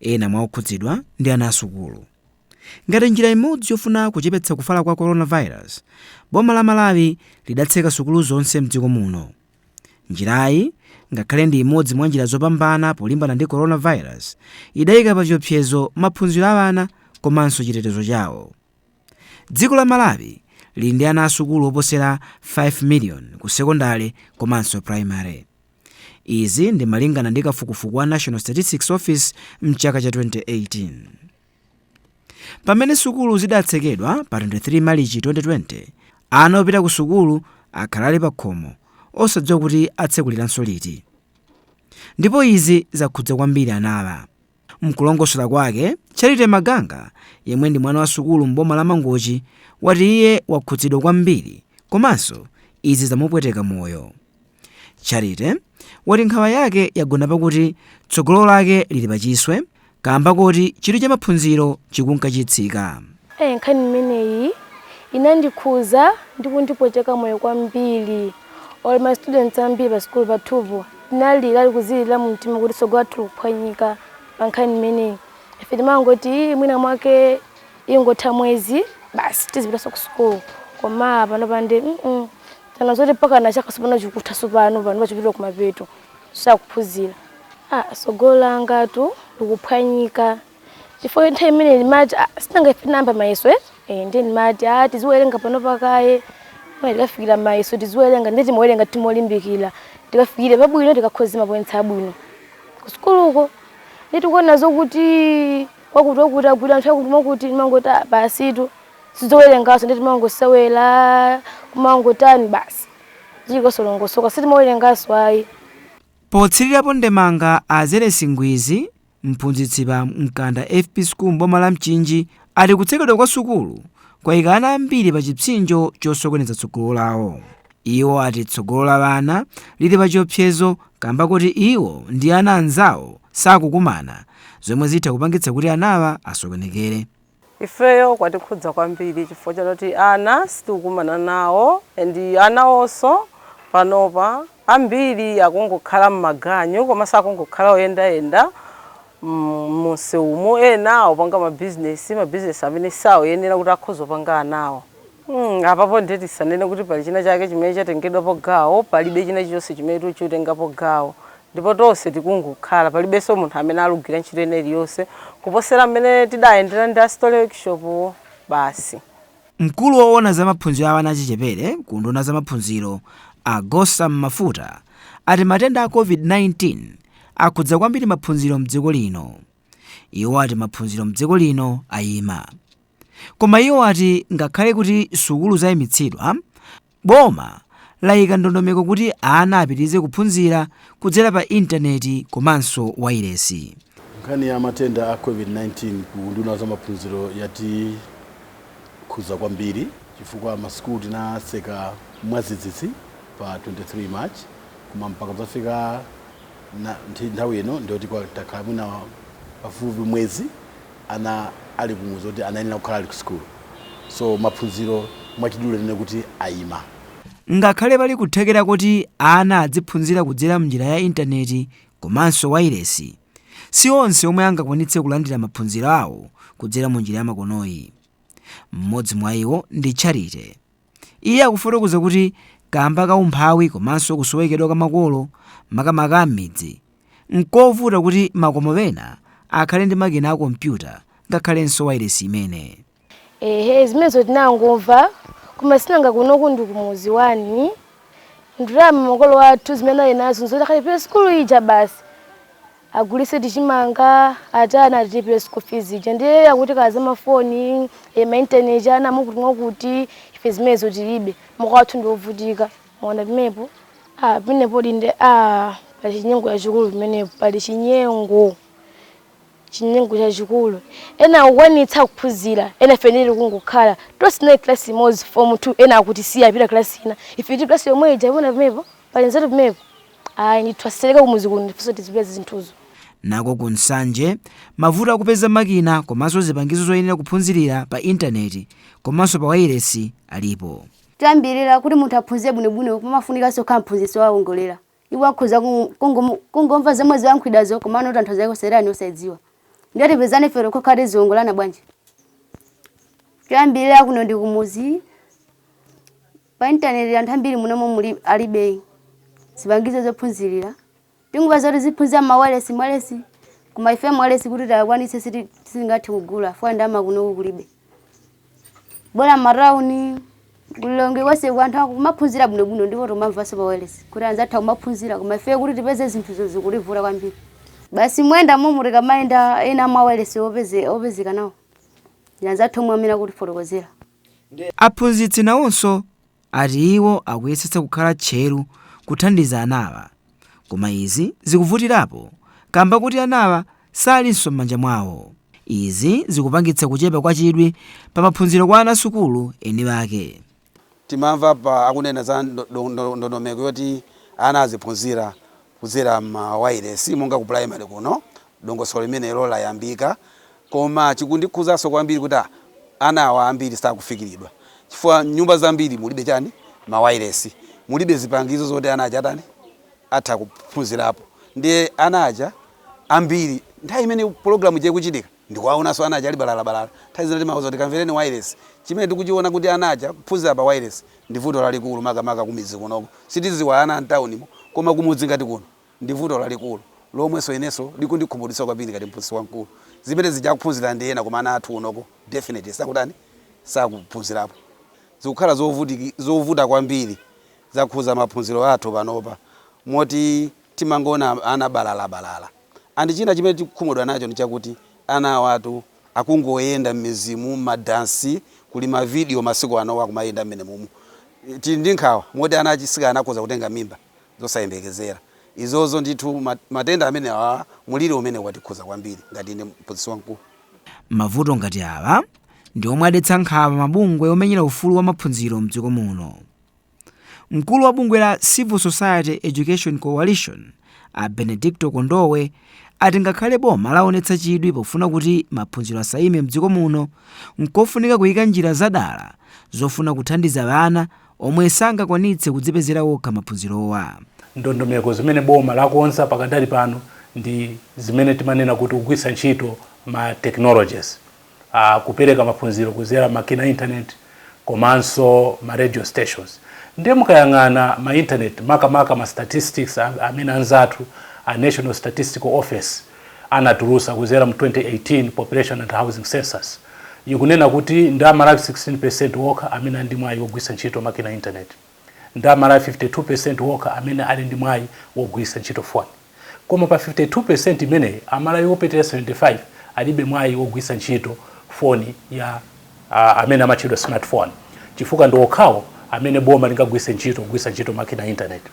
Ena mwa okhudzidwa ndi ana asukulu. Ngati njira imodzi yofuna kuchepetsa kufala kwa coronavirus, boma la Malawi lidatseka sukulu zonse mdziko muno. Njirayi, ngakhale ndi imodzi mwa njira zopambana polimbana ndi coronavirus, idaika pa chiopsezo maphunziro a ana komanso chitetezo chawo. Dziko la Malawi lili ndi ana asukulu oposera 5 million ku sekondale komanso primary. Izi ndi malingana ndi kafukufuku wa National Statistics Office mchaka cha 2018. Pamene sukulu zidatsekedwa pa 23 Malichi 2020, ana opita ku sukulu akhala ali pakhomo osadziwa kuti atsekulidwanso liti. Ndipo izi zakhudza kwambiri anawa. Mkulongosola kwake, Charity Maganga yemwe ndi mwana wa sukulu m'boma la Mangochi wati iye wakhudzidwa kwambiri komanso izi zamupweteka moyo. Charity wati nkhawa yake yagona pakuti tsogolo lake lili pa chiswe kaamba koti chidwi cha maphunziro chikunka chitsika. Eee nkhani imeneyi inandikhuza ndi kundipweteka moyo kwambiri or ma student ambiri pa sukulu pathupo tinalira tikuzilirira mu mtima kuti tsogolo lathu likuphwanyika pa nkhani imeneyi ife timangoti ii mwina mwake ingotha mwezi basi tizipitanso ku sukulu koma pano pande mm tana zoti mpakana chaka sopano chikutha sopano pano chikupita kumapeto osaphunzira ah tsogolo langatu likuphwanyika chifukwa nthawi imene ndimati "Ah, sinanga ife tinayamba mayeso eh Eh, ndiye ndimati a tiziwerenga pano pakaye Koma tikafikira mayeso tiziwerenga ndiye timawerenga timolimbikira tikafikire pabwino tikakhoza mapointsi abwino ku sukuluko ndiye tikuona zokuti wakuti wakuti agwira anthu akuti mwakuti timangoti "Ah, basitu sizowerenganso ndiye timangosewera kumangotani basi ndi zosalongosoka sitimawerenganso ayi Potsirirapo ndemanga a Zelesi Ngwizi Mphunzitsi pa Mkanda FP School m'boma la Mchinji ati kutsekedwa kwa sukulu kwayika ana ambiri pa chipsinjo chosokoneza tsogolo lawo. Iwo ati tsogolo la ana lili pa chiopsezo kamba koti iwo ndi ana anzawo sakukumana zomwe zitha kupangitsa kuti anawa asokonekere. Ifeyo kwatikhudza kwambiri chifukwa choti ana sitikukumana nawo and anawonso panopa ambiri akungokhala m'maganyu komanso akungokhala oyendayenda mumsewumu, ena akupanga mabizinesi, mabizinesi amene saoyenera kuti akhoza kupanga anawo. Hmm, apapo ndiye tisanene kuti pali china chake chimene chatengedwapo gawo, palibe china chilichonse chimene tikutengapo gawo. Ndipo tonse tikungokhala, palibenso munthu amene alugwira ntchito ina iliyonse kuposera m'mene tidayendera ndi a Story Workshop basi. Mkulu owona za maphunziro a ana achichepere ku unduna wa za maphunziro a Gossam Mafuta ati matenda a Covid-19 akhudza kwambiri maphunziro mdziko lino. Iwo ati maphunziro mdziko lino ayima. Koma iwo ati ngakhale kuti sukulu zaimitsidwa, boma laika ndondomeko kuti ana apitirize kuphunzira kudzera pa intaneti komanso wailesi. Nkhani ya matenda a Covid-19 ku unduna wa zamaphunziro yatikhudza kwambiri chifukwa masukulu tinatseka mwadzidzidzi pa 23 March koma mpaka kudzafika nthawi ino ndiyoti takhala mwina pafupifupi mwezi ana ali kumudzi koti anayenera kukhala ali kusukulu so maphunziro mwachidule tinene kuti ayima. Ngakhale pali kuthekera koti ana adziphunzira kudzera m'njira ya intaneti komanso wailesi, si onse omwe angakwanitse kulandira maphunziro awo kudzera mu njira yamakonoyi. Mmodzi mwa iwo ndi Charity. Iye akufotokoza kuti kaamba ka umphawi komanso kusowekedwa kwa makolo, makamaka a m'midzi, n'kovuta kuti makomo ena akhale ndi makina a kompyuta ngakhalenso wailesi imene. Eeeh zimenezo tinangomva koma sinanga kunoku ndi kumudzi one, ndalama makolo athu zimene anali nazo nzoti akalipire sukulu ija basi. agulise tichimanga ati ana atilipire school fees ija ndiye akuti kaya zamafoni ma internet ana mwakuti mwakuti ife zimenezo tilibe makolo athu ndi wovutika mwaona pimepo ah, pimenepo dinde ah, pali chinyengo chachikulu pimenepo pali chinyengo chinyengo chachikulu ena akukwanitsa kuphunzira ena ife tili kungokhala tonse tinali klasi imodzi form two ena akutisiya apita klasi ina ife tili klasi yomwe ija mukuona pimepo pali nzeru pimepo ayi ndithu atsetsereke kumuzi kuno nafenso tizipeza zinthuzo nako ku nsanje mavuto akupeza makina komanso zipangizo zoyenera kuphunzirira pa intaneti komanso pa wailesi alipo choyambirira kuti munthu aphunzire bwinobwino pamafunikanso kukhala mphunzitsi wowongolera iwo akhoza ku- kungomu- kungomva zomwe zikuyankhulidwazo komano tanthauzo lake kuseli osadziwa ndiye tipezeka ifeyo tokha tiziwongolana bwanji choyambirira kuno ndi kumuzi Pa intaneti anthu ambiri muno momwemuli alibe zipangizo zophunzirira. Tingomva zoti tiziphunzira mma wailesi koma ife mawailesi kuti tikwanitse sitingathe kugula fukwa ndalama kunoko kulibe. Bola mmatauni ku Lilongwe konseko anthu akumaphunzira bwinobwino ndipo tomamvanso pa wailesi kuti anzathu akumaphunzira koma ife kuti tipeze zinthuzo zikutivuta kwambiri. Basi moyendamo momwe tikamayenda ena ma wailesi opezeka nawo ndi anzathu omwe amene akutifotokozera. Aphunzitsi nawonso ati iwo akuyesetsa kukhala tcheru kuthandiza anawa koma izi zikuvutirapo kamba kuti anawa salinso m'manja mwawo. Izi zikupangitsa kuchepa kwa chidwi pa maphunziro kwa ana sukulu eni ake. Timamva pa akunena za ndondomeko yoti ana aziphunzira kudzera ma wailesi monga ku primary kuno dongosolo limeneli layambika koma chikundikhuzaso kwambiri kuti a ana awa ambiri sakufikiridwa chifukwa nyumba zambiri mulibe chani ma wailesi mulibe zipangizo zoti ana aja atani atha kuphunzirapo ndiye ana aja ambiri nthawi imene program ija ikuchitika Ndikuwaonanso ana aja ali balalabalala. Nthawi zina timawauza kuti kamvereni wailesi. Chimene tikuchiona kuti ana aja kuphunzira pa wailesi ndi vuto lalikulu makamaka kumidzi kunoko. Sitidziwa ana a m'taunimo koma kumudzi ngati kuno ndi vuto lalikulu lomwenso inenso likundikhumudwitsa kwambiri ngati mphunzitsi wamkulu. Zimene zija akuphunzira ndi ena koma ana athu kunoko definitely sakutani, sakuphunzirapo. Zikukhala zovuta kwambiri. Zakhudza maphunziro athu panopa moti. timangoona ana balalabalala and china chimene tikukhumudwa nacho ndichakuti anawatu akungoyenda mmidzimu madansi kuli ma video masiku ano akumayenda mmenemumu tili ndi nkhawa moti ana achisikana akhoza kutenga mimba zosayembekezera izozo ndithu matenda amenewa mulili umenewu watikhuza kwambiri ngati ine mphunzitsi wamkulu. Mavuto ngati awa ndi omwe adetsa nkhawa mabungwe omenyera ufulu wa maphunziro mdziko muno. Mkulu wa bungwe la Civil Society Education Coalition, a Benedicto Kondowe, ati ngakhale boma laonetsa chidwi pofuna kuti maphunziro asaime mdziko muno, nkofunika kuika njira zadala zofuna kuthandiza ana omwe sangakwanitse kudzipezera okha maphunzirowa. Ndondomeko zimene boma lakonza pakadali pano ndi zimene timanena kuti kugwiritsa ntchito ma technologies. a kupereka maphunziro kuzera makina a internet komanso ma radio stations ndiye mukayang'ana ma internet makamaka ma statistics amene anzathu a National Statistical Office anatulusa kuzera mu 2018 Population and Housing Census ikunena kuti ndi amalawi 16% okha amene ali ndi mwayi wogwisa ntchito makina internet. Ndi a Malawi 52 percent okha amene ali ndi mwai wogwiritsa ntchito foni. Koma pa 52 percent imeneyi, a Malawi opitirira 75 alibe mwai wogwiritsa ntchito foni ya. a amene amatchedwa smart foni chifukwa ndi okhawo amene boma lingagwiritse ntchito kugwiritsa ntchito makina a intaneti.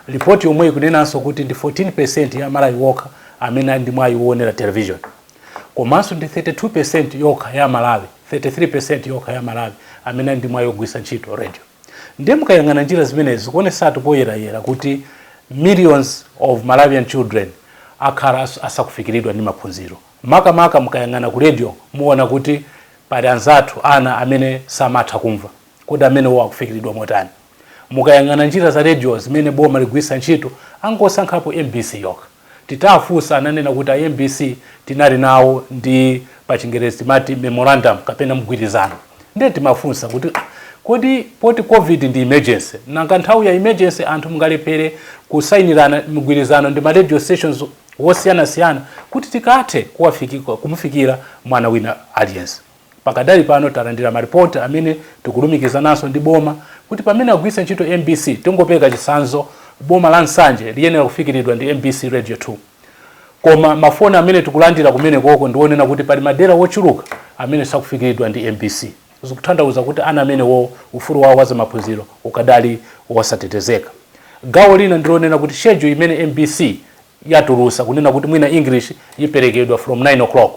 Lipoti yomweyi ikunenanso kuti ndi 14 percent ya a Malawi okha amene ali ndi mwai woonera television. Komanso ndi 32 percent yokha ya a Malawi 33 percent yokha ya a Malawi amene ali ndi mwai wogwiritsa ntchito radio. Ndiye mukayang'ana njila zimenezi zikuonesatu poyela-yela kuti millions of Malawian children akhala asakufikilidwa ndi maphunziro. Maka-maka mukayang'ana ku radio muwona kuti pali anzathu, ana, amene samatha kumva. Kodi amenewo akufikilidwa motani? Mukayang'ana njila za radio zimene boma ligwilitsa nchito angosankhapo mbc yokha. Titafunsa ananena kuti a mbc tinali nawo ndi pa chingerezi timati memorandum kapena mgwirizano nde timafunsa kuti kodi poti covid ndi emergency nanga nthawi ya emergency anthu mungalephere kusainirana mgwirizano ndi ma radio stations wosiyanasiyana kuti tikathe kumufikira mwana wina aliyense. Pakadali pano talandira ma report amene tikulumikizananso ndi boma kuti pamene agwiritsa ntchito mbc tingopereka chitsanzo boma la Nsanje liyenera kufikiridwa ndi mbc radio 2 koma ma phone amene tikulandira kumenekoko ndi onena kuti pali madela ochuluka amene sakufikiridwa ndi mbc zikuthandauza kuti ana amenewowo ufulu wawo wa zamaphunziro ukadali wosatetezeka. Gawo lina ndilonena kuti schedule imene mbc yatulusa kunena kuti mwina English yiperekedwa from 9 o'clock.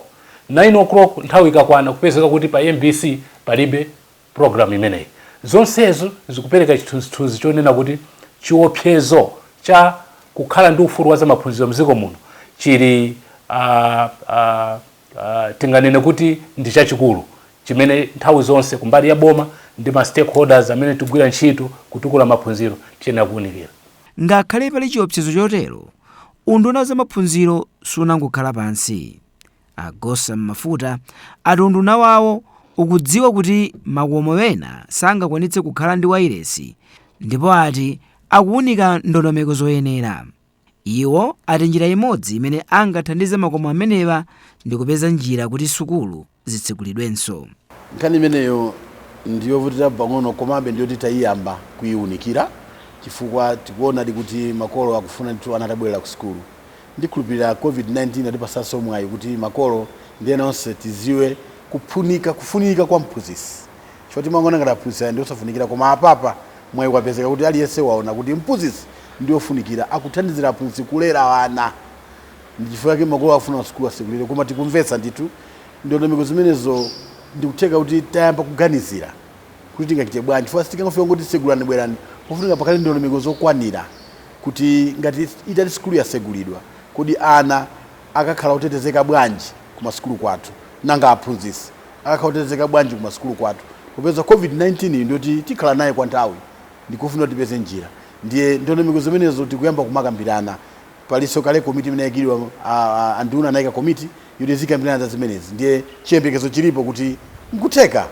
9 o'clock nthawi ikakwana kupezeka kuti pa mbc palibe program imeneyi. Zonsezo zikupereka chithunzithunzi chonena kuti chiopsezo cha kukhala ndi ufulu wa zamaphunziro mziko muno chili uh, uh, uh, tinganene kuti ndi chachikulu chimene nthawi zonse kumbali ya boma ndi ma stakeholders amene tigwira ntchito kutukula maphunziro tiyenera kuunikira. Ngakhale pali chiopsezo chotero, unduna wa zamaphunziro sunangokhala pansi. A Gossam Mafuta ati unduna wawo ukudziwa kuti makomo ena sangakwanitse kukhala ndi wailesi ndipo ati akuunika ndondomeko zoyenera. Iwo ati njira imodzi imene angathandize makomo amenewa ndi kupeza njira kuti sukulu. zitsegulidwenso. Nkhani imeneyo ndi yovutirapo pang'ono komabe ndi yoti taiyamba kuiunikira chifukwa tikuonadi kuti makolo akufuna ndithu ana atabwerera kusukulu. Ndikhulupirira Covid-19 yatipatsanso mwayi kuti makolo ndi ena onse tidziwe kuphunika, kufunika kwa mphunzitsi. Chifukwa timangoona ngati aphunzitsi aja ndi osafunikira koma apapa mwayi wapezeka kuti aliyense waona kuti mphunzitsi ndi wofunikira, akuthandizira aphunzitsi kulera ana. Ndichifukwa chake makolo akufuna masukulu asegulire koma tikumvetsa ndithu ndondomeko zimenezo ndikutheka kuti tayamba kuganizira kuti tingachite bwanji chifukwa sitingangofika kungoti tsegulani bwerani pofunika pakhale ndondomeko zokwanira kuti ngati itati sukulu yasegulidwa kodi ana akakhala otetezeka bwanji kumasukulu kwathu nanga aphunzitsi akakhala otetezeka bwanji kumasukulu kwathu popeza covid 19 yi ndiyoti tikhala nayo kwanthawi ndikofunika kuti tipeze njira ndiye ndondomeko zimenezo tikuyamba kumakambirana Palinso kale komiti imene yaikidwa, a nduna anaika komiti yoti izikambirana za zimenezi ndiye chiyembekezo chilipo kuti n'kutheka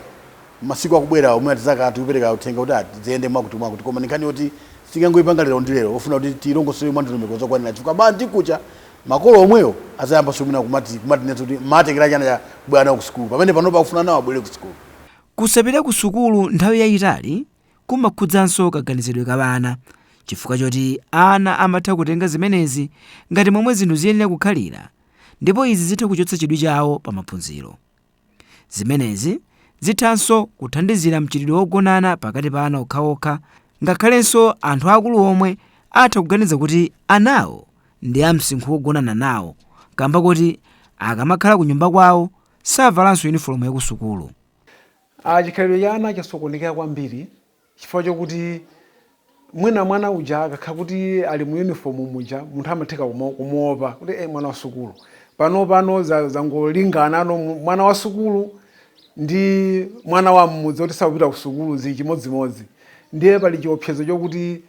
masiku akubwerawa mwina tidzakhala tikupereka uthenga woti ziyende mwakutimwakuti. Koma ndi nkhani yoti sitingangoipanga lero ndi lero, yofuna kuti tiilongosole mwandondomeko zokwanira chifukwa banji kucha makolo omwewo adzayambanso mwina kumati kumatinenanso kuti mumatengeranji ana athu kusukulu pamene panopa akufuna anawo abwere kusukulu. Kusapita kusukulu nthawi yaitali kumakhudzanso kaganizidwe ka ana chifukwa choti ana amatha kutenga zimenezi ngati momwe zinthu ziyenera kukhalira ndipo izi zitha kuchotsa chidwi chawo pa maphunziro zimenezi zithanso kuthandizira mchitidwe wogonana pakati pa ana okhaokha ngakhalenso anthu akulu omwe atha kuganiza kuti anawo ndi amsinkhu wogonana nawo kamba koti akamakhala ku nyumba kwawo savalanso uniform yakusukulu Chikhalidwe cha ana chasokonekera kwambiri chifukwa chokuti mwina mwana uja akakhala kuti ali mu uniform muja munthu amathako kumuopa kuti eh mwana wa sukulu. Panopano zangolinganano mwana wa sukulu ndi mwana wa mmudzi oti sakupita ku sukulu zili chimodzimodzi. Ndiye pali chiopsezo chokuti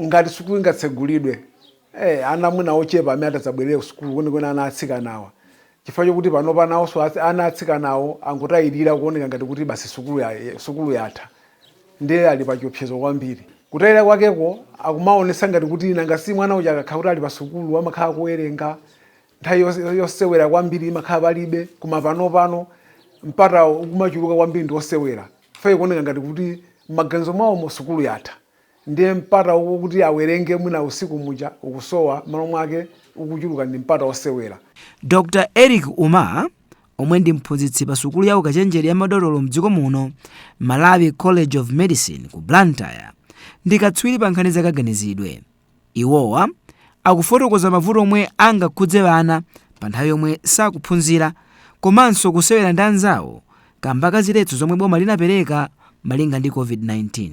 ngati sukulu ingatsegulidwe, eh, ana mwina ndi ochepa amene atadzabwerere ku sukulu, kwenikweni ana atsikanawa, chifukwa chokuti panopa nawonso atsi, ana atsikanawo angotayirira kuoneka ngati kuti basi sukulu ya, sukulu yatha, ndiye ali pa chiopsezo kwambiri. Kutayirira kwakeko akumaonetsa ngati kuti nanga si mwana uja akakhala kuti ali pa sukulu amakhala akuwerenga, Nthawi yosewera kwambiri imakhala palibe koma panopano mpata ukumachuluka kwambiri ndi osewera ife tikuona ngati kuti mmaganizo mwawomo sukulu yatha ndiye mpata wokuti awerenge mwina usiku muja ukusowa mmalo mwake ukuchuluka ndi mpata osewera. Dr Eric Umar omwe ndi mphunzitsi pa sukulu ya ukachenjede ya madotolo mdziko muno, Malawi College of Medicine ku Blantyre, ndi katswiri pa nkhani za kaganizidwe. Iwowa akufotokoza mavuto omwe angakhudze ana pa nthawi yomwe sakuphunzira komanso kusewera ndi anzawo kamba ka ziletso zomwe boma linapereka malinga ndi Covid-19.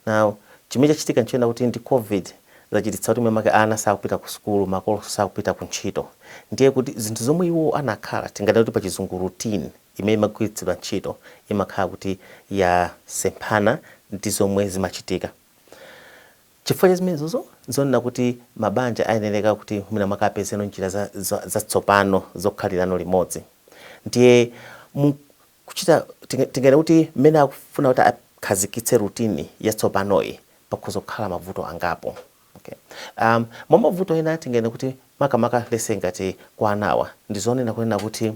Now, chimene chachitika nchonena kuti ndi Covid zachititsa kuti mwina mwake ana sakupita ku sukulu, makolonso sakupita ku ntchito. Ndiye kuti zinthu zomwe iwo anakhala, tinganene kuti pachizungu routine, imene imagwiritsidwa ntchito imakhala kuti yasemphana ndi zomwe zimachitika. Chifukwa cha zimenezozo, n'zonena kuti mabanja ayenereka kuti mwinamwake apezeno njira za za zatsopano zokhalirano limodzi. Ndiye mu kuchita tinga tinganene kuti mmene akufuna kuti akhazikitse routine yatsopanoyi, pakhoza kukhala mavuto angapo. Okay. Um, mwa mavuto ena tinganene kuti makamaka let's say ngati kwa anawa, ndi zonena kunena kuti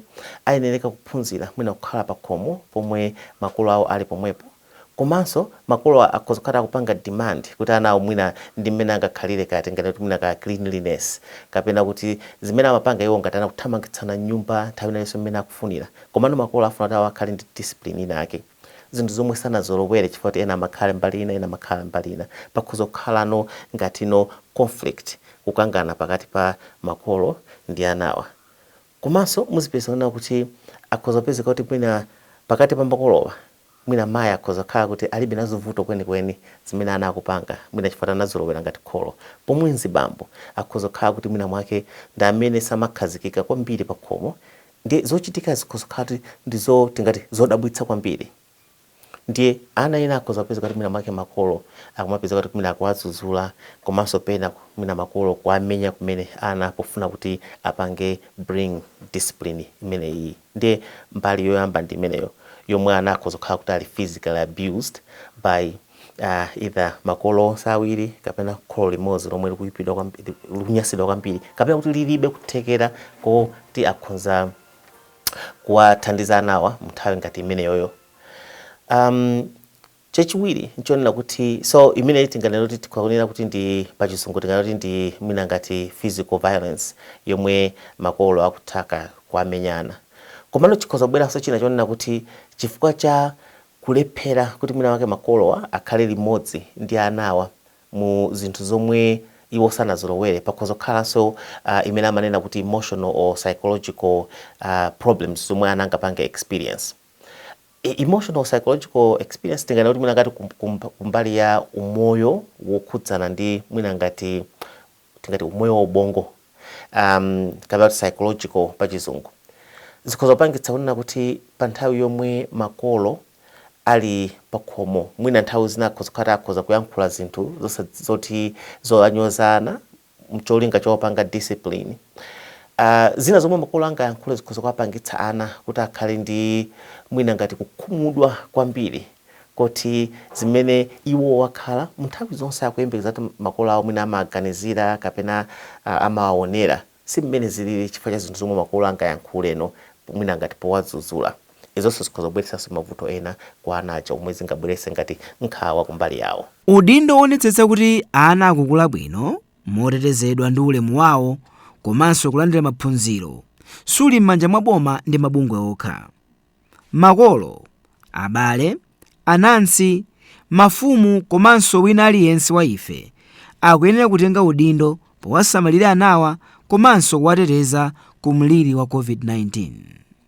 ayenereka kuphunzira mwina kukhala pakhomo pomwe makolo awo ali pomwepo. Komanso makolo akhoza kukhala akupanga demand kuti ana awo mwina ndi mmene angakhalire kaya tinganene kuti mwina kaya cleanliness kapena kuti zimene amapanga iwo ngati ana kuthamangitsana m'nyumba nthawi ina iliyonse mmene akufunira komano makolo afuna kuti awo akhale ndi discipline ina yake zinthu zomwe sanazolowere chifukwa kuti ena amakhale mbali ina ena amakhala mbali ina pakhoza kukhalano ngati conflict kukangana pakati pa makolo ndi anawa komanso muzipeza kunena kuti akhoza kupezeka kuti mwina pakati pa makolowa Mwina mayi akhoza kukhala kuti alibe nazo vuto kwenikweni zimene ana akupanga, mwina chifukwa anazolowera ngati kholo, pomwe azibambo akhoza kukhala kuti mwina mwake ndi amene samakhazikika kwambiri pakhomo ndiye zochitika zikhoza kukhala kuti ndi zoti ngati zodabwitsa kwambiri ndiye ana ena akhoza kupezeka kuti mwina mwake makolo akumapezeka kuti mwina akuwadzudzula komanso pena mwina makolo kuwamenya kumene ana pofuna kuti apange bring discipline imeneyiyi. Ndiye mbali yoyamba ndi imeneyo yomwe ana akhoza kukhala kuti ali physically abused by either makolo onse awiri kapena kholo limodzi lomwe likuipidwa kwamb likunyansidwa kwambiri kapena kuti lilibe kuthekera koti akhonza kuwathandiza anawa munthawi ngati imeneyoyo. Um, Chachiwiri n'chonena kuti so imeneyi tinganene kuti tikhoza kunena kuti ndi pachizungu tinganene kuti ndi mwina ngati physical violence yomwe makolo akutha kuwamenya ana. Komano chikhoza kubweranso china chonena kuti chifukwa cha kulephera kuti mwina mwake makolowa akhale limodzi ndi anawa mu zinthu zomwe iwo sanazolowere pakhoza kukhalanso ah, imene amanena kuti emotional or psychological ah, problems zomwe ana angapange experience. Emotional, psychological experience tinganene kuti mwina ngati kumbali ya umoyo wokhudzana ndi mwina ngati tingati umoyo wa ubongo kapena kuti psychological pa chizungu zikhoza kupangitsa kunena kuti pa nthawi yomwe makolo ali pakhomo mwina nthawi zina akhoza kukhala kuti akhoza kuyankhula zinthu zoti zowanyoza ana mcholinga chowapanga discipline. A, zina zomwe makolo angayankhule zikhoza kuwapangitsa ana kuti akhale ndi mwina ngati kukhumudwa kwambiri koti zimene iwowo akhala munthawi zonse akuyembekeza kuti makolo awo mwina amawaganizira kapena a, amawawonera si mmene zilili chifukwa cha zinthu zomwe makolo angayankhuleno mwina ngati powadzudzula. Izonso zikhoza kubweretsanso mavuto ena kwa ana aja omwe zingabweretse ngati nkhawa kumbali yawo. Udindo woonetsetsa kuti ana akukula bwino motetezedwa ndi ulemu wawo komanso kulandira maphunziro suli m'manja mwa boma ndi mabungwe okha. Makolo, abale, anansi, mafumu komanso wina aliyense wa ife akuyenera kutenga udindo powasamalira anawa komanso kuwateteza ku mliri wa Covid-19.